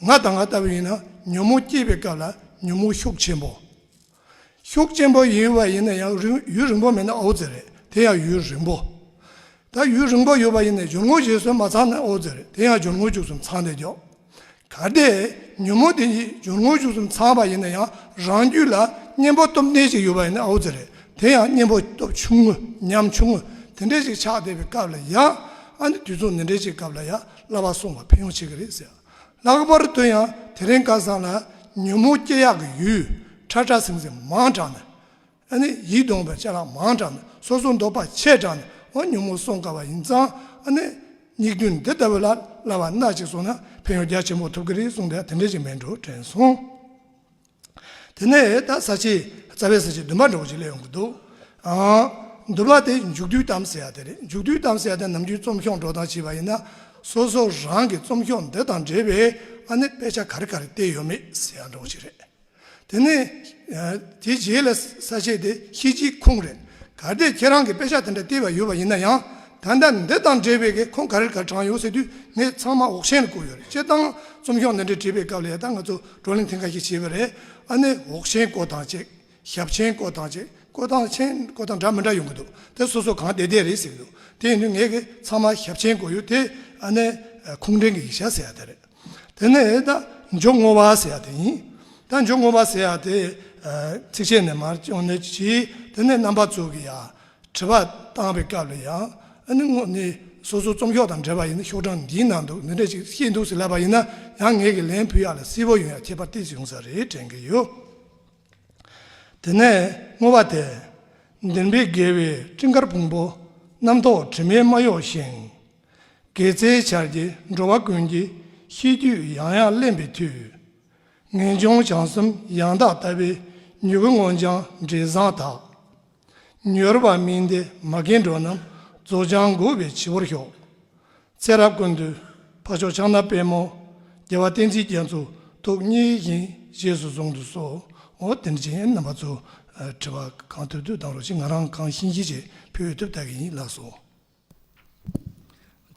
ང་དང་ང་ལྟ་བུ་ཡིན་ན་ཉོན་མོངས་སྐྱེས་པའི་སྐབས་ལ་ཉོན་མོངས་ཤུགས་ཆེན་པོ། ཤུགས་ཆེན་པོ་ཡིན་བ་ཡིན་ན་ཡང་ཡུན་རིང་པོ་མེད་ན་ཨོ་རྩལ་རེད་དེ་ཡང་ཡུན་རིང་པོ། ད་ཡུན་རིང་པོ་ཡོད་པ་ཡིན་ནས་སྦྱོར་དངོས་བཞེས་སྲོལ་མ་ཚང་ན་ཨོ་ཛེར་དེ་ཡང་སྦྱོར་དངོས་བཅུ་གསུམ་ཚང་ལས་མགྱོགས། གལ་ཏེ་ཉོན་མོངས་དེ་གཉིས་སྦྱོར་དངོས་བཅུ་གསུམ་ཚང་བ་ཡིན་ན་ཡང་རང་རྒྱུད་ལ་གཉེན་པོ་སྟོབས་ལྡན་ཞིག་ཡོད་པ་ཡིན་ན་ཨོ་ཛེར་དེ་ཡང་གཉེན་པོ་སྟོབས་ཆུང་ངུ་ཉམ་ཆུང་ངུ་དེ་འདྲས་ཞིག་ཆགས་བསྡད་པའི་སྐབས་ལ་ཡང་ཨ་ནི་དུས་མཚུངས་འདི་འདྲས་ཀྱི་སྐབས་ལ་ཡང་བསླབ་པ་སྲུང་བ་ཕན་ཡོང་བྱེད་ཀྱི་རེད་ཟེར། ལྷག་པར་དུ་ཡང་དེ་རིང་ཁ་སང་ལ་ཉོན་མོངས་སྐྱེ་ཡག་གི་ཡུལ་ཁྲ་ཁྲ་ཟིང་ཟིང་མང་དྲགས་ནས། ཨ་ནི་ཡིད་གདུང་བའི་ཆ་ལག་མང་དྲགས་ནས་སོ་སོ་འདོགས་པ་ཆད་དྲགས་ནས་འོ་ཉོན་མོངས་སོང་དཀའ་བ་ཡིན་ཙང་ཨ་ནི། སྙིགས་དུས་འདི་ལྟ་བུ་ལ་སླ་བ་སྣ་གཅིག་སོང་ན་ཕན་ཡོན་རྒྱ་ཆེན་པོ་ཐོབ་གི་རེད་གསུངས་པས་དེ་འདྲའི་ཞིག་མེད་འགྲོ་དྲན་སོང། དེ་ནས་ད་ས་ཆའི་རྩ་བའི་ས་ཆའི་འདུན་པ་འདྲ་བོ་ཞིག་སླེབས་ཡོང་གི་འདུག་ཨང། འདུན་པ་དེ་མཇུག་སྡུད་གཏམ་ཟེར་ཡ་དེ་རེད་མཇུག་སྡུད་གཏམ་ཟེར་ཡ་དེ་ནམ་རྒྱུན་རྩོམ་ཤོག་འགྲོ་སྟངས་བྱས་པ་ཡིན་ན། སོ་སོ་རང་གི་རྩོམ་ཤོག་འདི་དང་འབྲེལ་བའི་ཨ་ནི་དཔེ་ཆ་ག་རེ་ག་རེ་བལྟས་ཡོད་མེད་ཟེར་ཡ་འདྲ་བོ་ཞིག་རེད། དེ་ནས་དེའི་རྗེས་ལ་ས་བཅད་དེ་ཤེས་ཀྱི་ཁུངས་རེད། གལ་ཏེ་ཁྱེད་རང་གིས་དཔེ་ཆ་དེ་འདྲ་བལྟས་པ་ཡོད་པ་ཡིན་ན་ཡང་ད་ལྟ་འདི་དང་འབྲེལ་བའི་གི་ཁུངས་ག་རེར་ག་རེ་དྲངས་ཡོད་ཟེར་དུས་ངས་ཚང་མ་འོག་མཆན་ལ་བཀོད་ཡོད་རེད་སྤྱིར་བཏང་རྩོམ་གཞུང་འདི་འདྲའི་བྲིས་པའི་སྐབས་ལ་ཡང་ད་ང་ཚོ་བགྲོ་གླེང་ཐེངས་འགའ་ཞིག་བྱས་པ་རེད་ཨ་ནི་འོག་མཆན་བཀོད་སྟངས་ཅིག་ཞབས་མཆན་བཀོད་སྟངས་ཅིག་བཀོད་སྟངས་མཆན་བཀོད་སྟངས་འདྲ་མི་འདྲ་ཡོང་གི་འདུག་དེ་སོ་སོ་གང་བདེ་བདེ་རེད་ཟེར་གྱི་འདུག་དེ་ཡིན་དུས་ངས་གི་ཚང་མ་ཞབས་མཆན་བཀོད་ཡོད་དེ་ཨ་ནི་ཁུངས་འདྲེན་གྱི་ཡིག་ཆ་ཟེར་ཡ་དེ་རེད། དེ་ནས་རྟ་མཆོག་བསྔོ་བ་ཟེར་ཡག་དེ་ཡིན། རྟ་མཆོག་བསྔོ་བ་ཟེར་ཡག་དེ། ཚིགས་བཅད་ནས་མར་བྱུང་ནས་གྱིས་དེ་ནས་རྣམ་པ་གཙོ་གི་ཡ། དྲི་བ་བཏང་བའི་སྐབས་ལ་ཡང་ཨ་ནི་བསྔོ་ནི་སོ་སོའི་རྩོམ་ཤོག་དང་འབྲེལ་བ་ཡིན་ན་ཤོག་གྲངས་འདིའི་ནང་དུ་མི་འདྲ་ཞིག་བཤད་འདུག་ཟེར་ལབ་པ་ཡིན་ན་ཡང་ངེད་ཀྱིས་ལན་ཕུལ་ཡག་ལ་སིལ་བོ་ཡོན་ཡག་ཁྱད་པར་ཏིག་བྱུང་ས་རེད་དྲན་གྱི་ཡོད། དེ་ནས་བསྔོ་བ་དེ། བདེན་པའི་དགེ་བའི་སྤྲིན་དཀར་ཕུང་པོ། རྣམ་རྟོག་དྲི་མའི་རྨ་གཡོགས་བཞིན། དགེ་རྩའི་ཆར་གྱི་འགྲོ་བ་ཀུན་གྱི་ཤེས་རྒྱུད་ཡང་ཡང་གླེང་པའི་མཐུས། ངེས་འབྱུང་བྱང་གསུམ་ཡང་དག་ལྟ་བའི་མྱུ་གུ་མངོན་བྱང་འབྲས་བཟང་དག། མྱུར་བར་སྨིན་ཏེ་མ་རྒན་འགྲོ་རྣམས་རྫོགས་བྱང་མགུ་བའི་བྱི་བོར་ཤོག། ཚེ་རབས་ཀུན་ཏུ་ཕ་ཕྱོགས་ཕྱག་ན་པད་མོ། རྒྱལ་བ་བསྟན་འཛིན་རྒྱ་མཚོ་ཐུགས་མཉེས་བཞིན་བཞེས་སུ་གསུང་དུ་གསོལ། དེ་ནས་ཅན་རྣམ་པ་ཚོ་དྲི་བ་གང་ཐུབ་ཐུབ་བཏང་རོགས་གཅིག་ང་རང་གང་ཤེས་ཤེས་བྱས་ཕུལ་ཐུབ་ལྟ་གི་ཡིན་ལགས་སོ།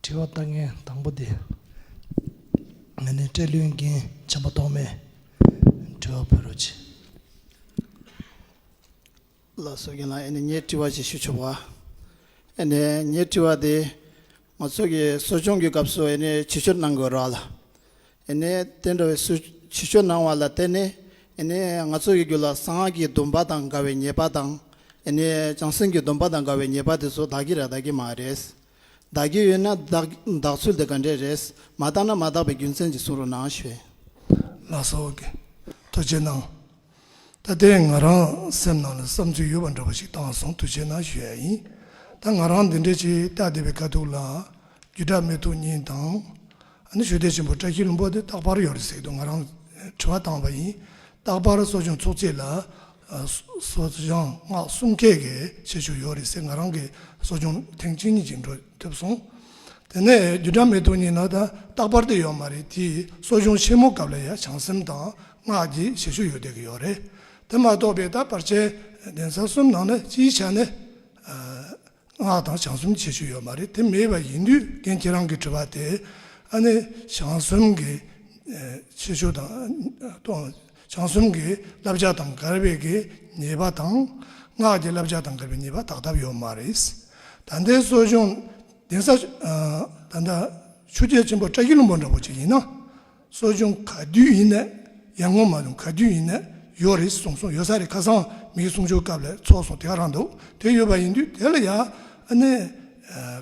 དྲི་བ་ལྟ་མཁན་དང་པོ་དེ། ང་ནི་སྤྲེལ་ལོའི་རྒན་ཆེན་པོ་ཐོག་མའི་དྲི་བ་ཕུལ་རོགས་གྱིས། ལ་སོ་རྒན་ལགས་ཨེ་ནི་ངས་དྲི་བ་ཞིག་ཞུ་ཆོག་བ། ཨེ་ནི་ངའི་དྲི་བ་དེ། ང་ཚོ་གི་གསོ་སྦྱོང་གི་སྐབས་སུ་ཨེ་ནི་བྱེད་སྤྱོད་གནང་དགོས་རོགས་ལ། དེ་འདྲ་བའི་སུ་བྱིས་ཆོས་གནང་བ་ལ་བརྟེན་ནས་ང་ཚོ་ཡི་རྒྱུ་ལ་གསང་སྔགས་ཀྱི་སྡོམ་པ་དང་དགའ་བའི་ཉེས་པ་དང་བྱང་སེམས་ཀྱི་སྡོམ་པ་དང་དགའ་བའི་ཉེས་པ་དེ་ཚོ་དག་གི་རེད་དག་གི་མ་རེད། དག་གི་ཡོད་ན་དག་ཚུལ་དེ་ག་འདྲས་རེད་མ་དག་ན་མ་དག་པའི་རྒྱུ་མཚན་གྱི་ཟུང་རུ་གནང་ཞེས། ལ་སོགས་ཀྱི་ཐུགས་རྗེ་གནང། ད་ལྟའི་ང་རང་སེམས་ནང་ལ་བསམ་ཚུལ་ཡོད་པ་འདྲ་པོ་ཞིག་བཏང་སོང་དུས་ཆེན་ནང་ཞུ་ཡ་ཡིན། ད་ང་རང་འདི་འདྲའི་ཆེ་རྟགས་ལྡན་པའི་དཀའ་སྡུག་ལ། རྒྱུ་དྲག་མི་ཐུག་ཉིན་དང། ཨ་ནི་ཞོལ་སྡེ་ཆེན་པོ་བཀྲ་ཤིས་ལུང་པ་དེ་རྟག་པར་ཡོད་རེད་ཟེར་དུས་ང་རང་དྲི་བ་བཏང་བ་ཡིན། རྟག་པར་གསོ་སྦྱོང་ཚོགས་ཚིགས་ལ། གསོ་སྦྱང་སྔགས་གསུམ་ཁད་ཀྱིས་བྱེད་ཆོག་ཡོད་རེད་ཟེར་ང་རང་གི་གསོ་སྦྱོང་ཐེངས་གཅིག་གཉིས་ཀྱིས་འགྲོ་ཐུབ་སོང། དེ་ནས་རྒྱུ་དྲག་མི་ཐུག་ཉིན་ནང་ད་རྟག་པར་དེ་ཡོད་མ་རེད་དེས་གསོ་སྦྱོང་ཆེན་མོ་སྐབས་ལ་ཡ་བྱང་སེམས་དང་སྔགས་ཀྱི་བཞེད་ཤུགས་ཡོད་བསྡད་ཀྱི་ཡོད་རེད། དེ་མ་གཏོགས་པའི་ད་བར་བྱས་གདན་ས་གསུམ་ནང་ན་སྤྱིའི་ཆ་ནས་སྔགས་དང་བྱང་གསུམ་བྱེད་ཤུགས་ཡོད་མ་རེད་དེ་མེད་པ་ཡིན་དུས་རྒན་ཁྱེད་རང་གི་དྲི་བ་དེ་ཨ་ནི་བྱང་གསུམ་གྱི་བྱེད་ཤུགས་དང་བྱང་གསུམ་གྱི་བསླབ་བྱ་དང་འགལ་བའི་གི་ཉེས་པ་དང་སྔགས་ཀྱི་བསླབ་བྱ་དང་འགལ་བའི་ཉེས་པ་དག་ཐབས་ཡོད་མ་རེད། ད་ལྟའི་གསོ་སྦྱོང་གདན་ས་ད་ལྟ་ཆུ་སྐྱེས་ཆེན་པོ་བཀྲ་ཤིས་ལྷུན་པོ་འདྲ་བོ་ཅིག་ཡིན་ན། གསོ་སྦྱོང་ག་དུས་ཡིན་ནས་ཡར་ངོ་མ་རུང་ག་དུས་ཡིན་ནས་ཡོད་རེད་གསུངས་སོང་ཡོད་ས་རེད་ཁ་སང་མིག་གསུམ་འཆོར་སྐབས་ལས་ཚོགས་སོང་དེ་ག་རང་འདུག་དེ་ཡོད་པ་ཡིན་དུས་དེ་ལ་ཡ་ཨ་ནེ་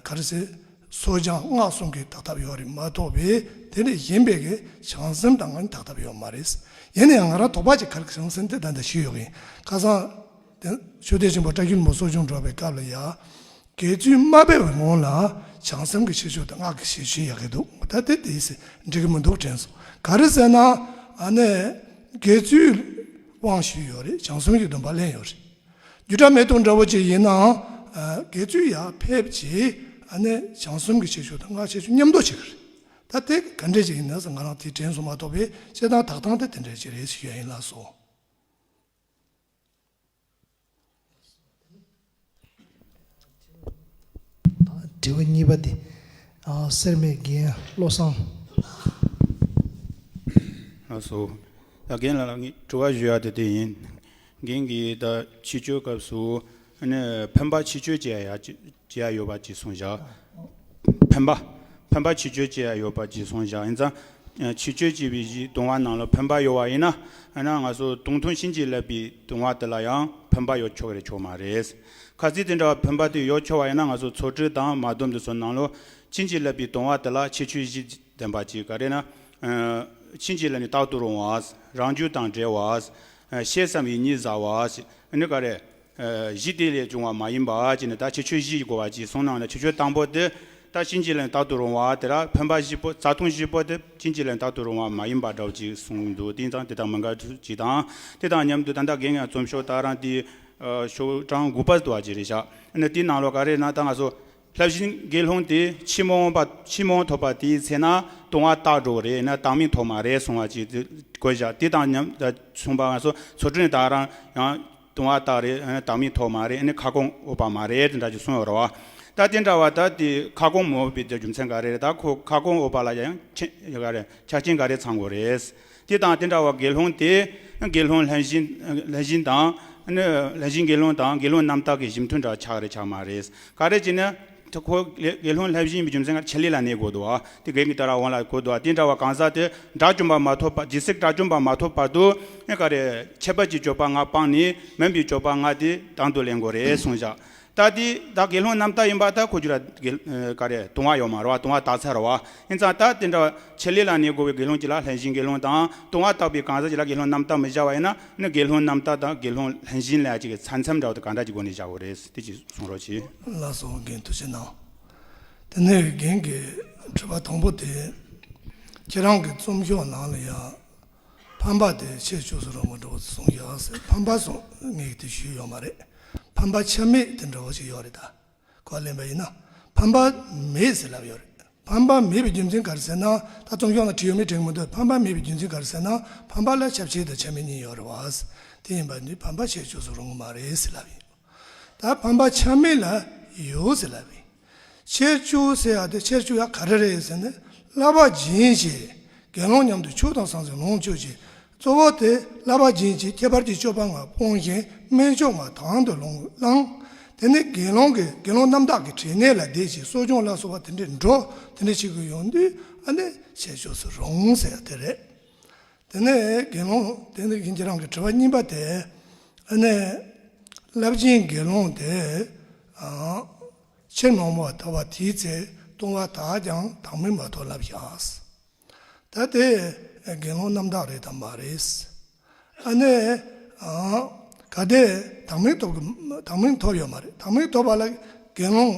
ག་རེ་ཟེར་གསོ་སྦྱང་སྔགས་སྲུང་གི་དག་ཐབས་ཡོད་རེད་མ་གཏོགས་པའི་དེ་ལས་གཞན་པའི་གི་བྱང་སེམས་དང་ངན་དག་ཐབས་ཡོད་མ་རེད་ཡིན་ནའང་ང་རང་དོགས་པ་ཅིག་ག་རེ་གི་བྱང་སེམས་དེ་ད་ལྟ་ཞིག་ཡོད་གི་ཡིན་ཁ་སང། དེ་ནས་ཆོས་སྡེ་ཆེན་པོ་བཀྲ་ཤིས་མོ་སོགས་བྱུང་འགྲོ་བའི་སྐབས་ལ་ཡང། དགེ་བཅུའི་སྨྲ་སྦེད་པའི་ངོ་ལ་བྱང་སེམས་ཀྱི་ཤེས་ཕྱོགས་དང་སྔགས་ཀྱི་ཤེས་ཕྱིན་ཡག་གི་འདུག་ད་ལྟའི་དེ་ཟེར་འགྲིག་གི་མི་འདུག་དྲན་སོང་ག་རེ་ཟེར་ན་ཨ་ནས་དགེ་བཅུའི་དབང་ཞུས་ཡོད་རེད་བྱང་སེམས་ཀྱི་སྡོམ་པ་གླན་ཡོད་རེད་རྒྱུ་དྲ་མེ་དུང་འདྲ་བོ་ཅིག་ཡིན་ནའང་དགེ་བཅུ་ཡར་ཕེབས་རྗེས་ཨ་ནས་བྱང་སེམས་ཀྱི་ཤེས་ཕྱོགས་དང་སྔགས་ཤེས་ཕྱིན་མཉམ་འདོགས་བྱེད་གི་རེད་ད་དེ་ག་འདྲས་ཅིག་ཡིན་ན་ཟེར་ང་རང་དེ་དྲན་སོང་མ་གཏོགས་པའི་བཤད་སྟངས་དག་སྟངས་དེ་དེ་འདྲས་ཅིག་རེད་ཞུ་ཡ་ཡིན་ལགས་སོ། དྲི་བ་གཉིས་པ་འདི། སེར་སྨད་རྒན་བློ་བཟང། ལགས་སོ། ད་རྒན་ལགས་ལ་ངས་དྲི་བ་ཞུ་ཡག་དེ་འདི་ཡིན། རྒན་གྱིས་ད་ཕྱི་བཅོལ་སྐབས་སུ། ཕན་པ་ཕྱི་བཅོས་བཅས་ཡང་ཡོད་པ་བརྗེད་སོང་བཞག་ཕན་པ་ཕན་པ་ཕྱི་བཅོས་བཅས་ཡང་ཡོད་པ་བརྗེད་སོང་བཞག་ཡིན་ཙང། ཕྱི་བཅོས་བྱས་པའི་གཞིའི་བཏུང་བ་རྣམས་ལ་ཕན་པ་ཡོད་བ་ཡིན་ན། ཡང་ན་ང་ཚོ་དུང་ཐུང་བྱིན་གྱིས་བརླབས་པའི་བཏུང་བ་དེ་ལ་ཡང་ཕན་པ་ཡོད་ཆོག་རེད་ཆོག་མ་རེད། ཁ་ཚིག་དེ་འདྲ་བ་ཕན་པ་དེ་ཡོད་ཆོག་བ་ཡིན་ན་ང་ཚོ་ཚོགས་སྤྲུལ་དང་མ་སྡོམ་འདི་ཚོ་ནང་ལོ་བྱིན་གྱིས་བརླབས་པའི་བཏུང་བ་དེ་ལ་ཕྱི་བཅོས་གཞི་ལྡན་པ་ཅིག་ག་རེ་ན། བྱིན་གྱིས་བརླབས་ནས་རྟག་ཏུ་རུང་བ། རང་རྒྱུད་དང་འབྲེལ་བ། ཤེས་སམ་ཡིད་གཉིས་ཟ་བ། འདི་ག་རེ། གཞི་དེ་ལས་བྱུང་བ་མ་ཡིན་པ་ཅི་ནས་ད་ཕྱི་ཆོས་བཞི་གོ་བ་ཅི་གསུངས་སྣང་ན་ཕྱི་ཆོས་དང་པོ་དེ་ད་གཤིན་རྗེ་ལས་དག་ཏུ་རུང་བ་དེ་ར་འཕེན་པ་བཞི་པོ་རྩ་ལྟུང་བཞི་པོ་དེ་གཤིན་རྗེ་ལས་དག་ཏུ་རུང་བ་མ་ཡིན་པ་འདྲའོ་ཅི་གསུངས་འདུག་དེ་དང་དེ་དང་མི་འགལ་གྱི་དང་དེ་དང་མཉམ་དུ་ད་ལྟ་དགེ་བསྙེན་རྩོམ་ཤོག་དག་རང་དེའི་ཤོག་གྲངས་དགུ་པ་དུ་བ་ཅི་རེ་བཞག་ནས་དེའི་ནང་ལོ་ག་རེ་ན་ད་ང་སོ། ལྷ་བཞིན་དགེ་སློང་དེས་ཕྱི་མོ་འོངས་པ་ཕྱི་མོ་ཐོབ་པ་དེའི་ཚེ་ན་ལྟུང་བ་བརྟགས་འགྲོ་བ་རེད་ན་བདག་མི་ཐོབ་མ་རེད་གསུང་བ་ཅིག་དགོས་བཞག་དེ་དང་མཉམ་དུ་གསུང་པ་ང་སོ་སོ་དྲུང་དག་རང་ཡང་ལྟུང་བ་བརྟགས་རེད་ན་བདག་མི་ཐོབ་མ་རེད་ནི་ཁ་སྐོང་འོས་པ་མ་རེད་དེ་འདྲ་ཅིག་གསུང་བའི་རོ་བ་ད་དེ་འདྲ་བ་ད་དེ་ཁ་སྐོང་མི་འོས་པའི་རྒྱུ་མཚན་ག་རེ་རེད་ད་ཁོ་ཁ་སྐོང་འོས་པ་ལ་ཡང་ཆ་རྐྱེན་ག་རེ་ཚང་དགོས་རེད། དེ་དང་དེ་འདྲ་བ་དགེ་སློང་དེས་དགེ་སློང་ལྷན་བཞིན་ལྷན་བཞིན་དང། ལྷན་བཞིན་དགེ་སློང་དང་དགེ་སློང་རྣམ་དག་གི་གཞི་མཐུན་འདྲ་ཆགས་རེ་ཆགས་མ་རེས་ག་རེ་བྱས་ན། ཁོ་དགེ་སློང་ལྷན་བཞིན་རྒྱུ་མཚན་ག་རེ་ཆེ་ལས་ལ་གནས་གོ་དོ། དེ་བགེགས་ཀྱི་ལྟ་ར་འོང་ལ་གོ་དོ། དེ་འདྲ་བ་གང་ཟག་དེ་དགྲ་བཅོམ་པ་མ་ཐོབ་པ་ཇི་སྲིད་དགྲ་བཅོམ་པ་མ་ཐོབ་བར་དུ། ག་རེ་ཁྱད་པར་གྱི་སྤྱོད་པ་ལྔ་སྤངས་ནས་མོན་པའི་སྤྱོད་པ་ལྔ་དེ་དང་དུ་ལེན་གོ་རེ་གསུངས་བཞག་ད་ལྟའི་ད་དགེ་སློང་རྣམས་ད་ཡིན་པ་ད་ཁོ་རྒྱུ་ར་དགེ། ཀ་རེ། དུང་བ་ཡོག་མ་ར་བ་དུང་བ་དག་ཚ་ར་བ། ཨིན་ཙང་ད་དེ་འདྲ་བ་ཆེ་ལེ་ལ་ནས་བསྒོ་བའི་དགེ་སློང་གྱི་ལ་ལྷན་ཞིང་དགེ་སློང་དང་དུང་བ་དག་པའི་གང་ཟག་གྱི་ལ་དགེ་སློང་རྣམས་ད་མི་བྱ་བ་ཡིན་ན་ནི་དགེ་སློང་རྣམས་ད་ད་དགེ་སློང་ལྷན་ཞིང་ལས་གཅིག་གི་ཚ་མཚམས་འདྲ་བ་དང་གང་འདྲ་གྱི་སྒོ་ནས་བྱ་བ་རེད་ཟེར་དེ་གཅིག་གསུང་རོགས་གྱིས། ལ་སོགས་རྒན་དུ་བྱེད་ན། དེ་ནས་རྒན་གྱིས་དྲིས་པ་དང་པོ་དེ། ཁྱེད་རང་གི་རྩོམ་ཤོག་ནང་ལ་ཡང། ཕམ་པ་དེ་ཆེས་ཕྱོགས་སུ་རང་མགོ་འགྲོ་བ་ཚོ་སོང་ཡག་ཟེར་ཕམ་པ་སོང་ངེས་དེ་ཞུས་ཡོད་མ་རེད་ཕམ་པ་ཆ་མེད་དེ་འདྲ་བོ་ཞིག་ཡོད་རེད་ད་གོ་ལེན་པ་ཡིན་ན་ཕམ་པ་མེད་ཟེར་ལབ་ཡོད་རེད་ཕམ་པ་མེད་པའི་རྒྱུ་མཚན་ག་རེ་ཟེར་ན་ད་ཚོང་ཞོག་ན་བྲིས་ཡོད་མེད་དྲན་མི་འདུག་ཕམ་པ་མེད་པའི་རྒྱུ་མཚན་ག་རེ་ཟེར་ན་ཕམ་པ་ལ་ཁྱབ་བྱེད་དང་ཁྱབ་མེད་གཉིས་ཡོད་རེད་བ་དེ་ཡིན་པ་ནི་ཕམ་པ་ཆེས་ཕྱོགས་སུ་རང་མགོ་མ་རེད་ཟེར་ལབ་ཡིན་ད་ཕམ་པ་ཆ་མེད་ལ་ཡོད་ཟེར་ལབ་ཡིན། ཆེར་ཆུ་ཟེར་ཡག་དེ་ཆེར་ཆུ་ཡག་ག་རེ་རེད་ཟེར་ནས་གླ་པ་སྦྱིན་བྱས་དགེ་སློང་མཉམ་དུ་ཕྱུགས་དང་ཟང་ཟིང་ལོངས་སྤྱོད་བྱས་གཙོ་བོ་དེ་གླ་པ་སྦྱིན་བྱས་ཁྱད་པར་གྱི་སྤྱོད་པ་ལྔ་སྤོང་བཞིན་སྨན་ཆུང་མ་དང་དུ་ལོངས་བླངས་དེ་ནས་དགེ་སློང་གིས་དགེ་སློང་རྣམ་དག་གི་དྲིས་གནས་ལ་བསྡད་ཅིག་གསོ་སྦྱོང་ལ་གསོ་བ་དེ་འདྲས་འགྲོ་དེ་འདྲས་བྱེད་དགོས་ཡོང་དུས་ཨ་ནེ་བྱས་ཆོག་སུ་རུང་ཟེར་ཡག་དེ་རེད། དེ་ནས་དགེ་སློང་དེ་འདི་ཁྱེད་རང་གི་དྲི་བ་གཉིས་པ་དེ་ཨ་ནི། རླབས་ཆེན་དགེ་སློང་དེ། ཕྱིར་མ་འོངས་པར་ཐོབ་པ་དེའི་ཚེ་ལྟུང་བ་དག་ཀྱང་དག་མིན་པ་ཐོབ་ལབ་ཞགས། ད་དེ་དགེ་སློང་རྣམ་དག་རེད་དམ་མ་རེད། ཨ་ནི། ག་དེ་དག་མིན་ཐོབ་ཀྱི་དག་མིན་ཐོབ་ཡོད་མ་རེད་དག་མིན་ཐོབ་པ་ལ་དགེ་སློང།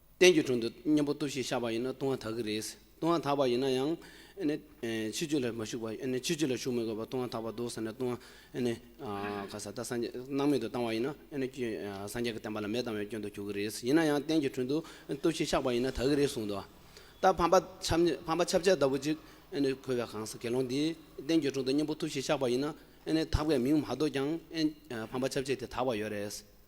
བསྟན་གྱི་དྲུང་དུ་གཉེན་པོ་སྟོབས་ཤིག་བཞག་པ་ཡིན་ན་ལྟུང་བ་དག་གི་རེད། ལྟུང་བ་དག་པ་ཡིན་ན་ཡང། ཕྱི་རྒྱུད་ལ་མ་ཞུགས་པ་ཕྱི་རྒྱུད་ལ་ཞུགས་མི་དགོས་པར་ལྟུང་བ་དག་པ་འདུག་ཟེར་ནས་ལྟུང་བ་ད་སངས་རྒྱས་སྣང་མེད་དུ་བཏང་བ་ཡིན་ན། སངས་རྒྱས་ཀྱི་བསྟན་པ་ལ་མེད་བཏང་བའི་སྐྱོན་དུ་གྱུར་གྱི་རེད། ཡིན་ན་ཡང་བསྟན་གྱི་དྲུང་དུ་སྟོབས་ཤིག་བཞག་པ་ཡིན་ན་དག་གི་རེད་གསུངས་འདུག་ད་ཕམ་པ་ཕམ་པ་ཆབ་ཆ་ལྟ་བུ་ཅིག་གོ་བའི་གང་ཟག་དགེ་སློང་འདིས་བསྟན་གྱི་དྲུང་དུ་གཉེན་པོ་སྟོབས་ཤིག་བཞག་པ་ཡིན་ན། དག་པའི་མིང་མ་འདོགས་ཀྱང་ཕམ་པ་ཆབ་ཆ་དེ་དག་པ་ཡོད་རེད།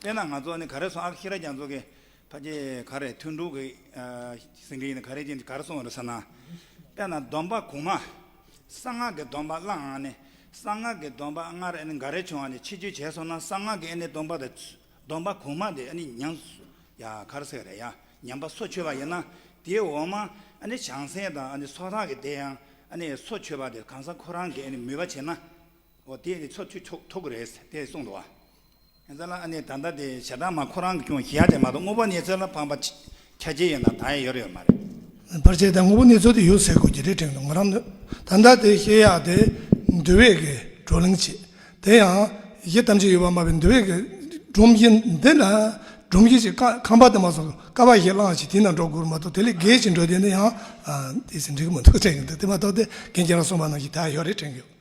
དཔེར་ན་ང་ཚོ་ནི་ག་རེ་སོང་ཨ་ཁ་ཤི་ར་རྒྱ་མཚོ་གི་ཕ་གྱི་ག་རེ་ཐུན་དྲུག་གི་ཟིན་གྱི་ཡིན་ནི་ག་རེ་ཅིག་ག་རེ་སོང་བ་རེད་ཟེར་ན། དཔེར་ན་སྡོམ་པ་གོང་མ་གསང་སྔགས་ཀྱི་སྡོམ་པ་བླ་འང་ནི་གསང་སྔགས་ཀྱི་སྡོམ་པ་སྔར་ཨ་ནི་འགའ་རེ་བྱུང་བ་ནི་ཕྱི་བཅོས་བྱས་སོང་ན་གསང་སྔགས་ཀྱི་ཨ་ནི་སྡོམ་པ་དང་སྡོམ་པ་གོང་མ་དེ་ཨ་ནི་ཉམས་སུ་ཡ་གར་སེ་རེད་ཡ་ཉམས་པ་སོ་ཆོད་པ་ཡིན་ན་དེའི་འོག་མ་ཨ་ནི་བྱང་སེམས་དང་ཨ་ནི་སོ་ཐག་གི་དེ་ཡང་ཨ་ནི་སོ་ཆོད་པ་དེ་གང་ཟག་ཁོ་རང་གིས་ཨ་ནི་མོས་པ་བྱས་ན་འོ་དེས་ནི་སོ་ཆོད་ཆོག་ཐུག་གི་རེད་དེ་གསུངས་འདུག་བ། ཡང་ཟ་ལ་ཨ་ནི་ད་ལྟ་དེ་ཞེ་སྡང་མ་ཁོ་རང་གི་ཁྱུང་ཞེ་ཡ་དེ་མ་གཏོགས་དངོས་པོ་ནེ་ཙོ་ལ་ཕངས་པ་ཁྱད་ཅི་ཡོད་ན་ད་ཡང་ཡོད་ཡོད་མ་རེད། བར་ཆད་དེ་དངོས་པོ་ནེ་ཙོ་དེ་ཡོད་ཟེར་དགོས་ཀྱི་རེད་དྲན་འདུག་ང་རང་ད་ལྟ་དེ་ཞེ་ཡ་དེ་འདུལ་བས་ཀྱི་བགྲོ་གླེང་བྱས་དེ་ཡང་ཡི་གཏམ་ཅི་ཡོད་པ་སྨྲ་བའི་འདུལ་བས་ཀྱི་སྒྲོམ་གཞི་འདི་ན་སྒྲོམ་གཞི་ཞིག་ཀ་ཁང་པ་དེ་མ་སོང་ཀ་བ་ཞིག་བསླངས་ཤིག་དེ་ནང་འགྲོ་དགོས་མ་གཏོགས་དེ་ལས་བརྒལ་ཞིག་འགྲོ་དེ་ནི་ཡང་དེ་ཟིན་འགྲིག་གི་མི་འདུག་དྲན་གྱི་འདུག་དེ་མ་གཏོགས་དེ་གན་རྒྱ་ལ་སོང་པ་ནང་བཞིན་ད་ཡང་ཡོད་རེད་དྲན་གྱི་ཡོད།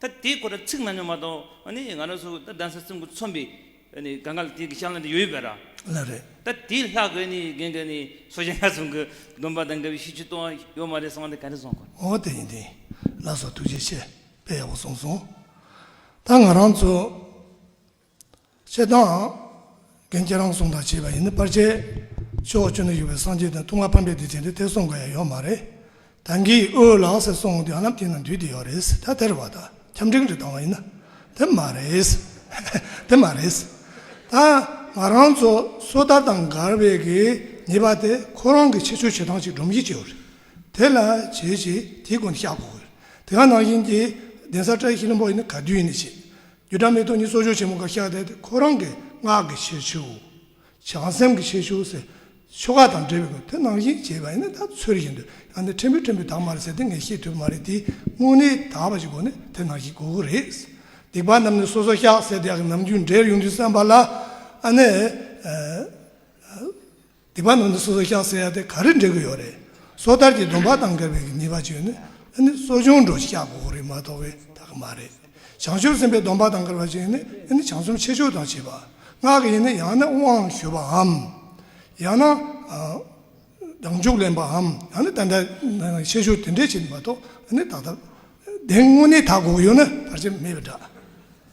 ད་དེའི་སྐོར་ལ་ཚིག་གནང་མྱོང་མ་གཏོགས་ནི་ང་རང་ཚོ་གདན་ས་སྲིན་པོ་ཚོམ་བུའི་སྒང་ག་ལ་དེ་གི་ཤང་ལ་དེ་ཡོད་ཡོད་པས་ར། ལ་རེད། ད་དེའི་ལྷག་དགོས་ནི་རྒན་ག་ནི་སོ་ཞེ་ང་ཚོ་གི་སྡོམ་པ་དང་འགལ་བའི་ཤིས་བྱུས་གཏོང་ཡ་ཡོད་མ་རེད་གསང་དེ་ག་རེ་གསང་དགོས། ཨོ་དེ་ཡིན་དེ་ལགས་སོ་ཐུགས་རྗེ་ཆེ་དཔེ་ཡག་པོ་གསུངས་སོང་ད་ང་རང་ཚོ། ཅད་དང། རྒན་ཁྱེད་རང་སོང་དང་བྱས་པ་ཡིན་ནི་པར་ཆས། ཕྱོགས་བཅུ་ན་ཡོད་པའི་སངས་རྒྱས་དང་ལྟུང་བ་ཕམ་པའི་སྡིག་ཅན་དེ་ཐེར་སོང་དགོས་ཡ་ཡོད་མ་རེད། ད་འགའི་འོས་ལག་ཟེར་སོང་ངོ་དེ་ཡང་ལམ་དེ་ན་འདུས་དེ་ཡོད་རེད། ད་དེར་བ་ད་ཁྱམས་འབྲིང་རེ་བཏང་བ་ཡིན་ན། དེ་མ་རེད། དེ་མ་རེད། ད་ང་རང་ཚོ་སོ་ཐར་དང་མགར་བའི་གི་ཉེས་པ་དེ་ཁོ་རང་གི་ཆེད་ཆོས་བྱེད་སྟངས་ཅིག་སྒྲོམ་གཞི་བྱས་ཡོད་རེད། དེ་ལ་བྱས་ཞེས་དེའི་སྒོ་ནས་བཤགས་དགོས་ཡོད་རེད། དེ་ག་ནང་བཞིན་གྱི་གདན་ས་བཀྲ་ཤིས་ལྷུན་པོ་ཡིན་ནི་ག་དུས་ཡིན་ནི་བྱས། རྒྱུ་སྒྲ་མེ་ཏོག་གཉིས་གསོག་འཇོག་ཆེན་མོ་འགའ་བཞག་སྟེ་ཁོ་རང་གི་ངག་གི་ཆེ་ཆུང། བྱང་སེམས་ཀྱི་ཆེ་ཆུང་ཟེར། ཆོ་ག་དང་འབྲེལ་བའི་སྐོར་དོན་སྣང་བཞིན་བྱེད་པ་ཡིན་ན་ད་ཚོད་རེ་ཞིག་འདོད་ཡང་འདི་ཕྲན་བུ་ཕྲན་བུ་དག་མ་རེད་ཟེར་ཏེ་ངས་ཤེས་ཐུབ་པ་མ་རེད་དེ་དངོས་གནས་དག་པ་ཞིག་གོ་ནི་དེ་ནང་བཞིན་གོ་གི་རེད། སྡིག་པ་རྣམས་ནི་སོ་སོ་བཤགས་ཟེར་དེ་ཡང་ནམ་རྒྱུན་འདྲེར་ཡོང་དུས་བསམ་པ་ལ་ཨ་ནི། སྡིག་པ་རྣམས་ནི་སོ་སོར་བཤགས་ཟེར་ཡ་དེ་ག་རེ་འབྲེལ་གྱི་ཡོད་རེད། སོ་ཐར་གྱི་སྡོམ་པ་དང་འགལ་བའི་ཉེས་པ་བྱས་ནས་ནི་གསོ་སྦྱོང་འགྲོ་བཤགས་དགོས་པ་རེད་མ་གཏོགས་པའི་ད་གི་མ་རེད། བྱང་ཆུབ་སེམས་དཔའི་སྡོམ་པ་དང་འགལ་བ་བྱས་ནས་ནི་བྱང་སེམས་ཆེ་ཕྱོགས་དང་བྱེད་པ་སྔགས་ཀྱི་ཡིན་ན་ཡང་ན་དབང་ཞུ་བའམ། ཡང་ན་བདག་འཇུག་ལེན་པའམ་ཡང་ན་དེ་འདྲ་ཆེ་ཕྱོགས་དེ་འདྲས་བྱེད་ནི་མ་གཏོགས་ནི་ད་ལྟ་བདེན་དངོས་གནས་ད་གོ་གི་ཡོད་ན་བར་ཆད་མེད་པའི་འདྲ།